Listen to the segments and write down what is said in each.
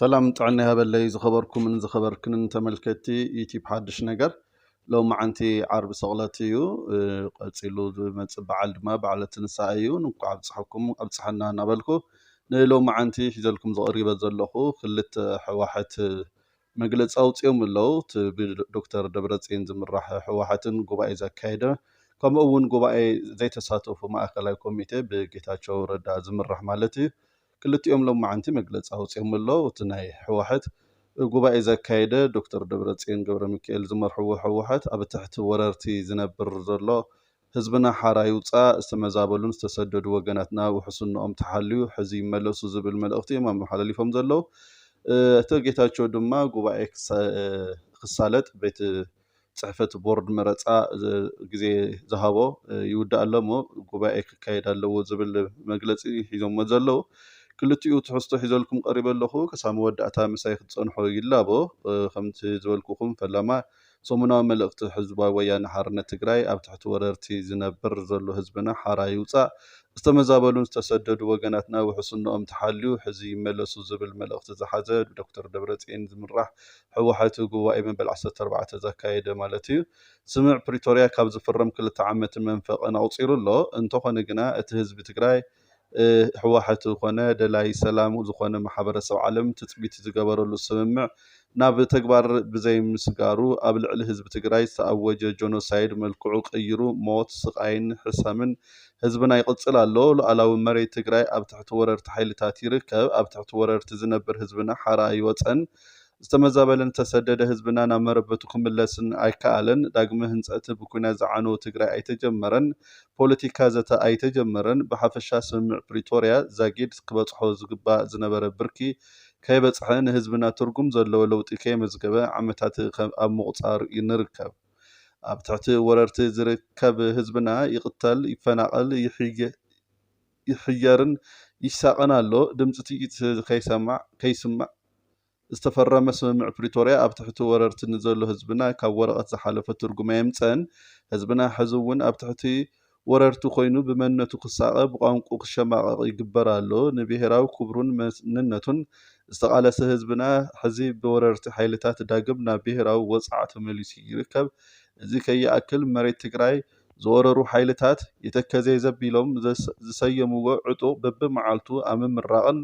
ሰላም ጥዕና ይሃበለይ ዝኸበርኩምን ዝኸበርክንን ተመልከቲ ዩቲብ ሓድሽ ነገር ሎም መዓንቲ ዓርቢ ሰቕለት እዩ ቀፂሉ ዝመፅእ በዓል ድማ በዓለ ትንሳኤ እዩ እንኳዕ ኣብፅሐኩም ኣብፅሐና እናበልኩ ንሎም መዓንቲ ሒዘልኩም ዝቐሪበ ዘለኹ ክልተ ሕዋሕት መግለፂ ኣውፂኦም ኣለው። እቲ ብዶክተር ደብረፅየን ዝምራሕ ህወሓትን ጉባኤ ዘካየደ ከምኡ እውን ጉባኤ ዘይተሳተፉ ማእኸላይ ኮሚቴ ብጌታቸው ረዳ ዝምራሕ ማለት እዩ። ክልቲኦም ሎማዕንቲ መግለፂ ኣውፂኦም ኣለው። እቲ ናይ ህወሓት ጉባኤ ዘካየደ ዶክተር ደብረፅየን ገብረሚካኤል ዝመርሕዎ ህወሓት ኣብ ትሕቲ ወረርቲ ዝነብር ዘሎ ህዝብና ሓራ ይውጻእ፣ ዝተመዛበሉን ዝተሰደዱ ወገናትና ውሕስንኦም ተሓልዩ ሕዚ ይመለሱ ዝብል መልእኽቲ እዮም ኣመሓላሊፎም ዘለዉ። ኣይተ ጌታቸው ድማ ጉባኤ ክሳለጥ ቤት ፅሕፈት ቦርድ መረፃ ግዜ ዝሃቦ ይውዳእ ኣሎ እሞ ጉባኤ ክካየድ ኣለዎ ዝብል መግለፂ ሒዞሞ ዘለዉ ክልቲኡ ትሕዝቶ ሒዘልኩም ቀሪበ ኣለኹ። ክሳብ መወዳእታ ምሳይ ክትፀንሑ ይላቦ። ከምቲ ዝበልኩኹም ፈለማ ሰሙናዊ መልእኽቲ ሕዝባዊ ወያነ ሓርነት ትግራይ ኣብ ትሕቲ ወረርቲ ዝነብር ዘሎ ህዝብና ሓራ ይውፃእ፣ ዝተመዛበሉን ዝተሰደዱ ወገናትና ውሕስንኦም ተሓልዩ ሕዚ ይመለሱ ዝብል መልእኽቲ ዝሓዘ ብዶክተር ደብረፅዬን ዝምራሕ ህወሓት ጉባኤ መበል ዓሰርተ ኣርባዕተ ዘካየደ ማለት እዩ። ስምምዕ ፕሪቶርያ ካብ ዝፍረም ክልተ ዓመትን መንፈቕን ኣቑፂሩ ኣሎ። እንተኾነ ግና እቲ ህዝቢ ትግራይ ህወሓት ኮነ ደላይ ሰላም ዝኾነ ማሕበረሰብ ዓለም ትፅቢት ዝገበረሉ ስምምዕ ናብ ተግባር ብዘይምስጋሩ ኣብ ልዕሊ ህዝቢ ትግራይ ዝተኣወጀ ጆኖሳይድ መልክዑ ቀይሩ ሞት፣ ስቓይን ሕሰምን ህዝብና ይቕፅል ኣሎ። ሉኣላዊ መሬት ትግራይ ኣብ ትሕቲ ወረርቲ ሓይልታት ይርከብ። ኣብ ትሕቲ ወረርቲ ዝነብር ህዝብና ሓራ ኣይወፀን። ዝተመዛበለን ዝተሰደደ ህዝብና ናብ መረበቱ ክምለስን ኣይከኣለን። ዳግመ ህንፀት ብኲናት ዝዓነወ ትግራይ ኣይተጀመረን። ፖለቲካ ዘተ ኣይተጀመረን፣ ብሓፈሻ ስምምዕ ፕሪቶርያ ዛጊድ ክበፅሖ ዝግባእ ዝነበረ ብርኪ ከይበፅሐ ንህዝብና ትርጉም ዘለዎ ለውጢ ከየመዝገበ ዓመታት ኣብ ምቑፃር ንርከብ። ኣብ ትሕቲ ወረርቲ ዝርከብ ህዝብና ይቕተል፣ ይፈናቐል፣ ይሕየርን ይሳቐን ኣሎ፣ ድምፂ ጥይት ከይስማዕ ዝተፈረመ ስምምዕ ፕሪቶርያ ኣብ ትሕቲ ወረርቲ ንዘሎ ህዝብና ካብ ወረቐት ዝሓለፈ ትርጉም ኣየምፀን። ህዝብና ሕዚ እውን ኣብ ትሕቲ ወረርቲ ኮይኑ ብመንነቱ ክሳቐ፣ ብቋንቁኡ ክሸማቐቕ ይግበር ኣሎ። ንብሄራዊ ክብሩን መንነቱን ዝተቓለሰ ህዝብና ሕዚ ብወረርቲ ሓይልታት ዳግም ናብ ብሄራዊ ወፅዓ ተመሊሱ ይርከብ። እዚ ከይኣክል መሬት ትግራይ ዝወረሩ ሓይልታት የተከዜ ዘቢሎም ዝሰየምዎ ዕጡቕ በቢመዓልቱ ኣብ ምምራቕን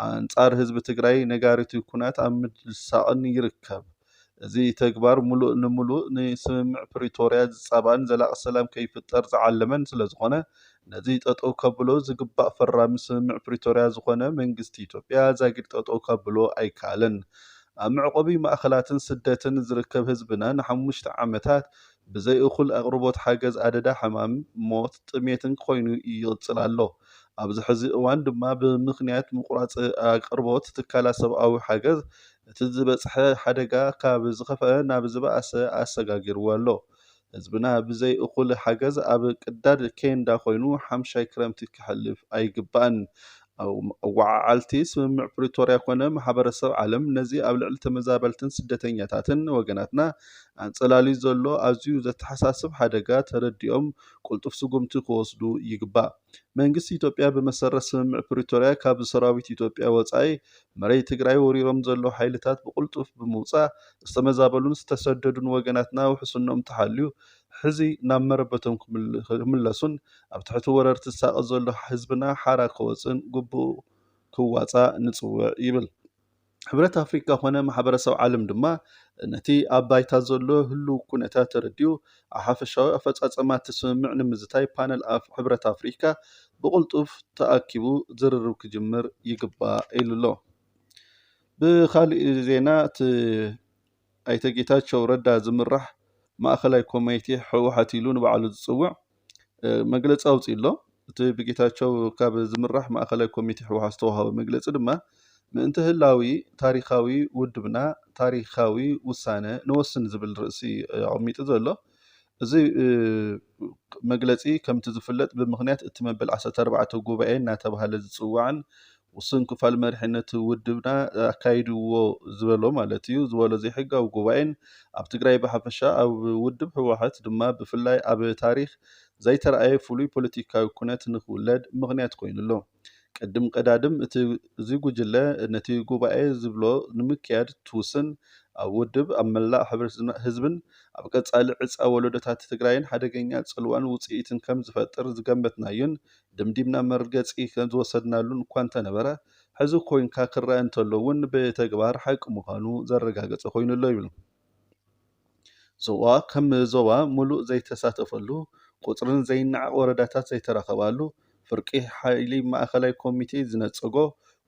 ኣንፃር ህዝቢ ትግራይ ነጋሪት ኩናት ኣብ ምድሳቕን ይርከብ። እዚ ተግባር ሙሉእ ንሙሉእ ንስምምዕ ፕሪቶርያ ዝፃባእን ዘላቒ ሰላም ከይፍጠር ዝዓለመን ስለዝኾነ ነዚ ጠጠው ከብሎ ዝግባእ ፈራሚ ስምምዕ ፕሪቶርያ ዝኾነ መንግስቲ ኢትዮጵያ ዛጊድ ጠጠው ከብሎ ኣይከኣለን። ኣብ መዕቖቢ ማእኸላትን ስደትን ዝርከብ ህዝብና ንሓሙሽተ ዓመታት ብዘይ እኹል ኣቕርቦት ሓገዝ ኣደዳ ሕማም፣ ሞት፣ ጥሜትን ኮይኑ ይቕጽል ኣሎ። ኣብዚ ሕዚ እዋን ድማ ብምኽንያት ምቑራጽ ኣቕርቦት ትካላት ሰብኣዊ ሓገዝ እቲ ዝበጽሐ ሓደጋ ካብ ዝኸፈኣ ናብ ዝበኣሰ ኣሰጋጊርዎ ኣሎ። ህዝብና ብዘይ እኹል ሓገዝ ኣብ ቅዳድ ኬንዳ ኮይኑ ሓምሻይ ክረምቲ ከሕልፍ ኣይግባእን። ኣወዓዓልቲ ስምምዕ ፕሪቶርያ ኮነ ማሕበረሰብ ዓለም ነዚ ኣብ ልዕሊ ተመዛበልትን ስደተኛታትን ወገናትና ኣንፀላልዩ ዘሎ ኣዝዩ ዘተሓሳስብ ሓደጋ ተረዲኦም ቁልጡፍ ስጉምቲ ክወስዱ ይግባእ። መንግስቲ ኢትዮጵያ ብመሰረት ስምምዕ ፕሪቶርያ ካብ ብሰራዊት ኢትዮጵያ ወፃኢ መሬት ትግራይ ወሪሮም ዘለዉ ሓይልታት ብቁልጡፍ ብምውፃእ ዝተመዛበሉን ዝተሰደዱን ወገናትና ውሕስንኦም ተሓልዩ ሕዚ ናብ መረበቶም ክምለሱን ኣብ ትሕቲ ወረርቲ ዝሳቐ ዘሎ ህዝብና ሓራ ክወፅእን ግቡኡ ክዋፃእ ንፅውዕ ይብል። ሕብረት ኣፍሪካ ኮነ ማሕበረሰብ ዓለም ድማ ነቲ ኣብ ባይታ ዘሎ ህሉው ኩነታት ተረዲኡ ኣብ ሓፈሻዊ ኣፈፃፀማ እቲ ስምምዕ ንምዝታይ ፓነል ሕብረት ኣፍሪካ ብቕልጡፍ ተኣኪቡ ዝርርብ ክጅምር ይግባእ ኢሉ'ሎ። ብኻሊእ ዜና እቲ ኣይተ ጌታቸው ረዳ ዝምራሕ ማእኸላይ ኮሜቴ ህወሓት ኢሉ ንባዕሉ ዝፅውዕ መግለፂ ኣውፂኡ ኣሎ። እቲ ብጌታቸው ካብ ዝምራሕ ማእኸላይ ኮሜቴ ህወሓት ዝተውሃበ መግለፂ ድማ ምእንተ ህላዊ ታሪኻዊ ውድብና ታሪኻዊ ውሳነ ንወስን ዝብል ርእሲ ኣቐሚጡ ዘሎ። እዚ መግለጺ ከምቲ ዝፍለጥ ብምኽንያት እቲ መበል ዓሰርተ ኣርባዕተ ጉባኤ እናተባህለ ዝጽዋዕን ውሱን ክፋል መሪሕነቱ ውድብና ኣካይድዎ ዝበሎ ማለት እዩ ዝበሎ ዘይሕጋዊ ጉባኤን ኣብ ትግራይ ብሓፈሻ ኣብ ውድብ ህወሓት ድማ ብፍላይ ኣብ ታሪክ ዘይተረኣየ ፍሉይ ፖለቲካዊ ኩነት ንክውለድ ምኽንያት ኮይኑ ኣሎ። ቅድም ቀዳድም እዚ ጉጅለ ነቲ ጉባኤ ዝብሎ ንምክያድ ትውስን ኣብ ውድብ፣ ኣብ መላእ ሕብረትን ህዝብን፣ ኣብ ቀፃሊ ዕፃ ወለዶታት ትግራይን ሓደገኛ ፅልዋን ውፅኢትን ከም ዝፈጥር ዝገመትናዮን ደምዲምና መርገፂ ዝወሰድናሉን እኳ እንተነበረ ሕዚ ኮይንካ ክረኣ እንተሎ እውን ብተግባር ሓቂ ምዃኑ ዘረጋገፀ ኮይኑ ኣሎ ይብሉ። ዞባ ከም ዞባ ሙሉእ ዘይተሳተፈሉ፣ ቁፅርን ዘይነዓቕ ወረዳታት ዘይተረኸባሉ፣ ፍርቂ ሓይሊ ማእኸላይ ኮሚቴ ዝነፀጎ፣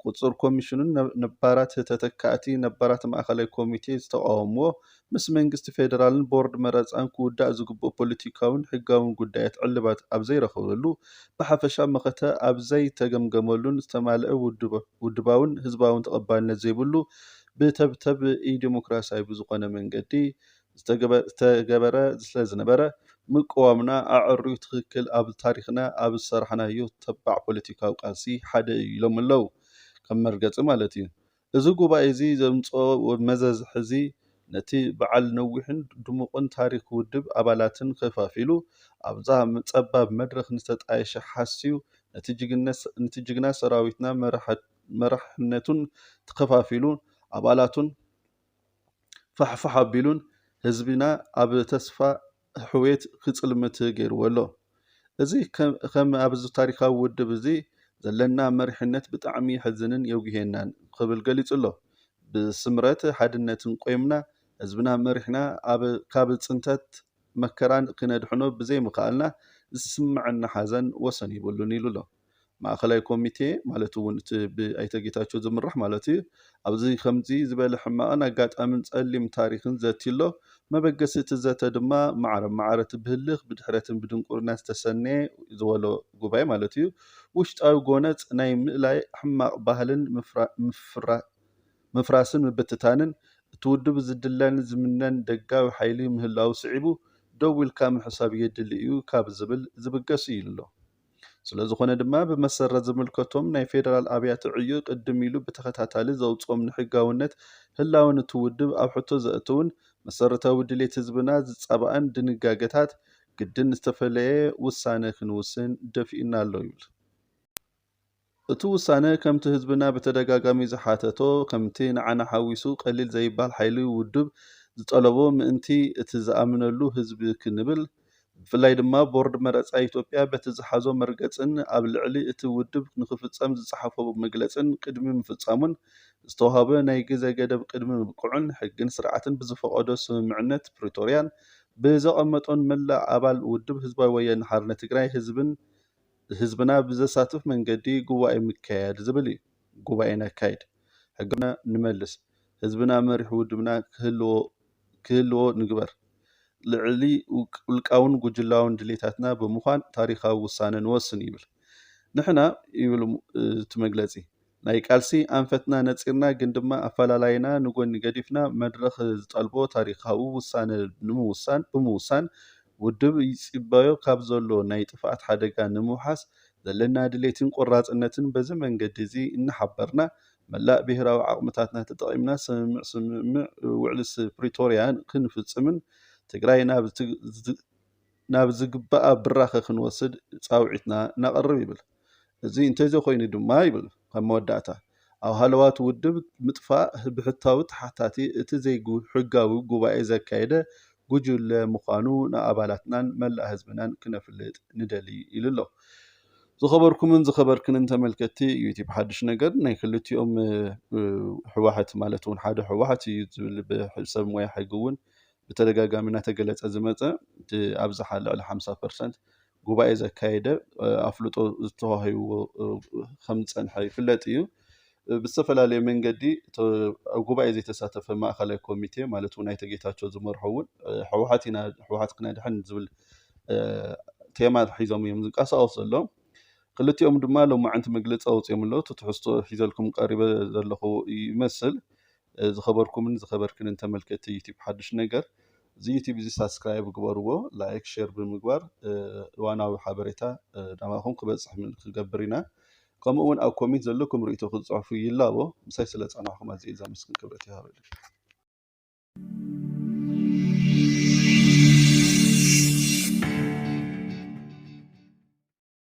ቁፁር ኮሚሽኑን ነባራት ተተካእቲ ነባራት ማእኸላይ ኮሚቴ ዝተቓወምዎ፣ ምስ መንግስቲ ፌደራልን ቦርድ መረፃን ክውዳእ ዝግብኦ ፖለቲካዊን ሕጋዊን ጉዳያት ዕልባት ኣብዘይረኸበሉ፣ ብሓፈሻ መኸተ ኣብዘይተገምገመሉን ዝተማልአ ውድባዊን ህዝባዊን ተቐባልነት ዘይብሉ ብተብተብ ኢዴሞክራሲያዊ ብዝኾነ መንገዲ ዝተገበረ ስለዝነበረ ምቅዋምና ኣዐርዩ ትኽክል ኣብ ታሪኽና ኣብ ዝሰራሕናዮ ተባዕ ፖለቲካዊ ቃልሲ ሓደ እዩ ኢሎም'ለው። ከም መርገጺ ማለት እዩ። እዚ ጉባኤ'ዚ ዘምጽኦ መዘዝ ሕዚ ነቲ በዓል ነዊሕን ድሙቕን ታሪኽ ውድብ ኣባላትን ከፋፊሉ ኣብዛ ጸባብ መድረኽ ንዝተጣየሸ ሓስዩ ነቲ ጅግና ሰራዊትና መራሕቲ መራሕነቱን ተኸፋፊሉ ኣባላቱን ፋሕፋሕ ኣቢሉን ህዝብና ኣብ ተስፋ ሕውየት ክጽልምት ገይርዎ ኣሎ። እዚ ከም ኣብዚ ታሪኻዊ ውድብ እዚ ዘለና መሪሕነት ብጣዕሚ የሕዝንን የጉህየናን ክብል ገሊጹ ኣሎ። ብስምረት ሓድነትን ቆይምና ህዝብና መሪሕና ካብ ጽንተት መከራን ክነድሕኖ ብዘይምኽኣልና ዝስመዐና ሓዘን ወሰን የብሉን ኢሉ ኣሎ። ማእኸላይ ኮሚቴ ማለት እውን እቲ ብኣይተ ጌታቸው ዝምራሕ ማለት እዩ ኣብዚ ከምዚ ዝበለ ሕማቕን ኣጋጣምን ጸሊም ታሪኽን ዘትዩሎ መበገሲ እቲ ዘተ ድማ ማዕረ ማዕረ እቲ ብህልኽ ብድሕረትን ብድንቁርና ዝተሰነየ ዝበሎ ጉባኤ ማለት እዩ ውሽጣዊ ጎነጽ ናይ ምእላይ ሕማቕ ባህልን ምፍራስን ምብትታንን እቲ ውድብ ዝድለን ዝምነን ደጋዊ ሓይሊ ምህላዉ ስዒቡ ደው ኢልካ ምሕሳብ የድሊ እዩ ካብ ዝብል ዝብገስ እዩ ኢሉ ኣሎ። ስለዝኾነ ድማ ብመሰረት ዝምልከቶም ናይ ፌደራል ኣብያተ ዕዩ ቅድም ኢሉ ብተኸታታሊ ዘውፅኦም ንሕጋውነት ህላወን እቲ ውድብ ኣብ ሕቶ ዘእትውን መሰረታዊ ድሌት ህዝብና ዝፃባእን ድንጋገታት ግድን ዝተፈለየ ውሳነ ክንውስን ደፊኡና ኣሎ ይብል። እቲ ውሳነ ከምቲ ህዝብና ብተደጋጋሚ ዝሓተቶ ከምቲ ንዓና ሓዊሱ ቀሊል ዘይባል ሓይሊ ውድብ ዝጠለቦ ምእንቲ እቲ ዝኣምነሉ ህዝቢ ክንብል ብፍላይ ድማ ቦርድ መረፃ ኢትዮጵያ በቲ ዝሓዞ መርገፅን ኣብ ልዕሊ እቲ ውድብ ንክፍፀም ዝፀሓፎ መግለፅን ቅድሚ ምፍፃሙን ዝተውሃበ ናይ ግዘ ገደብ ቅድሚ ምብቅዑን ሕግን ስርዓትን ብዝፈቐዶ ስምምዕነት ፕሪቶርያን ብዘቐመጦን መላእ ኣባል ውድብ ህዝባዊ ወያነ ሓርነት ትግራይ ህዝብን ህዝብና ብዘሳትፍ መንገዲ ጉባኤ ምከያድ ዝብል እዩ። ጉባኤ ነካይድ፣ ሕጋዊነትና ንመልስ፣ ህዝብና መሪሕ ውድብና ክህልዎ ንግበር፣ ልዕሊ ውልቃውን ጉጅላውን ድሌታትና ብምዃን ታሪኻዊ ውሳነ ንወስን ይብል። ንሕና ይብል እቲ መግለጺ፣ ናይ ቃልሲ ኣንፈትና ነጺርና ግን ድማ ኣፈላላይና ንጎኒ ገዲፍና መድረኽ ዝጠልቦ ታሪኻዊ ውሳነ ንምውሳን ብምውሳን ውድብ ይጽበዮ ካብ ዘሎ ናይ ጥፍኣት ሓደጋ ንምውሓስ ዘለና ድሌትን ቆራጽነትን በዚ መንገዲ እዚ እናሓበርና መላእ ብሄራዊ ዓቕምታትና ተጠቒምና ስምምዕ ስምምዕ ውዕሊ ፕሪቶርያ ክንፍጽምን ትግራይ ናብ ናብ ዝግባኣ ብራኸ ክንወስድ ፃውዒትና ነቕርብ ይብል። እዚ እንተዘይኮይኑ ድማ ይብል ኣብ መወዳእታ ኣብ ሃለዋት ውድብ ምጥፋእ ብሕታዊ ተሓታቲ እቲ ዘይሕጋዊ ጉባኤ ዘካየደ ጉጅለ ምዃኑ ንኣባላትናን መላእ ህዝብናን ክነፍልጥ ንደልይ ኢሉ ኣሎ። ዝኸበርኩምን ዝኸበርክንን ተመልከትቲ ዩቲብ ሓዱሽ ነገር ናይ ክልቲኦም ሕዋሕት ማለት እውን ሓደ ሕዋሕት እዩ ዝብል ሰብ ሞያ ሕጊ እውን ብተደጋጋሚ እናተገለፀ ዝመፀ እቲ ኣብዝሓ ልዕሊ ሓምሳ ፐርሰንት ጉባኤ ዘካየደ ኣፍልጦ ዝተዋሂብዎ ከምዝፀንሐ ይፍለጥ እዩ። ብዝተፈላለየ መንገዲ ኣብ ጉባኤ ዘይተሳተፈ ማእኸላይ ኮሚቴ ማለት እውን ኣይተ ጌታቸው ዝመርሖ እውን ህወሓት ኢና ህወሓት ክነድሕን ዝብል ቴማ ሒዞም እዮም ዝንቀሳቐሱ ዘለዉ ክልቲኦም ድማ ሎማዕንቲ መግለፂ ኣውፂኦም ኣለዉ እቲ ትሕዝቶ ሒዘልኩም ቀሪበ ዘለኹ ይመስል ዝኸበርኩምን ዝኸበርክንን ተመልከቲ ዩቲብ ሓዱሽ ነገር እዚ ዩቲብ እዚ ሳብስክራይብ ግበርዎ ላይክ ሼር ብምግባር እዋናዊ ሓበሬታ ናባኹም ክበፅሕ ክገብር ኢና ከምኡ እውን ኣብ ኮሚት ዘለኩም ርእቶ ክትፅሕፉ ይላቦ ምሳይ ስለ ፀናሕኩም ኣዝየ ዘመስግን ክብረት ይሃበልይ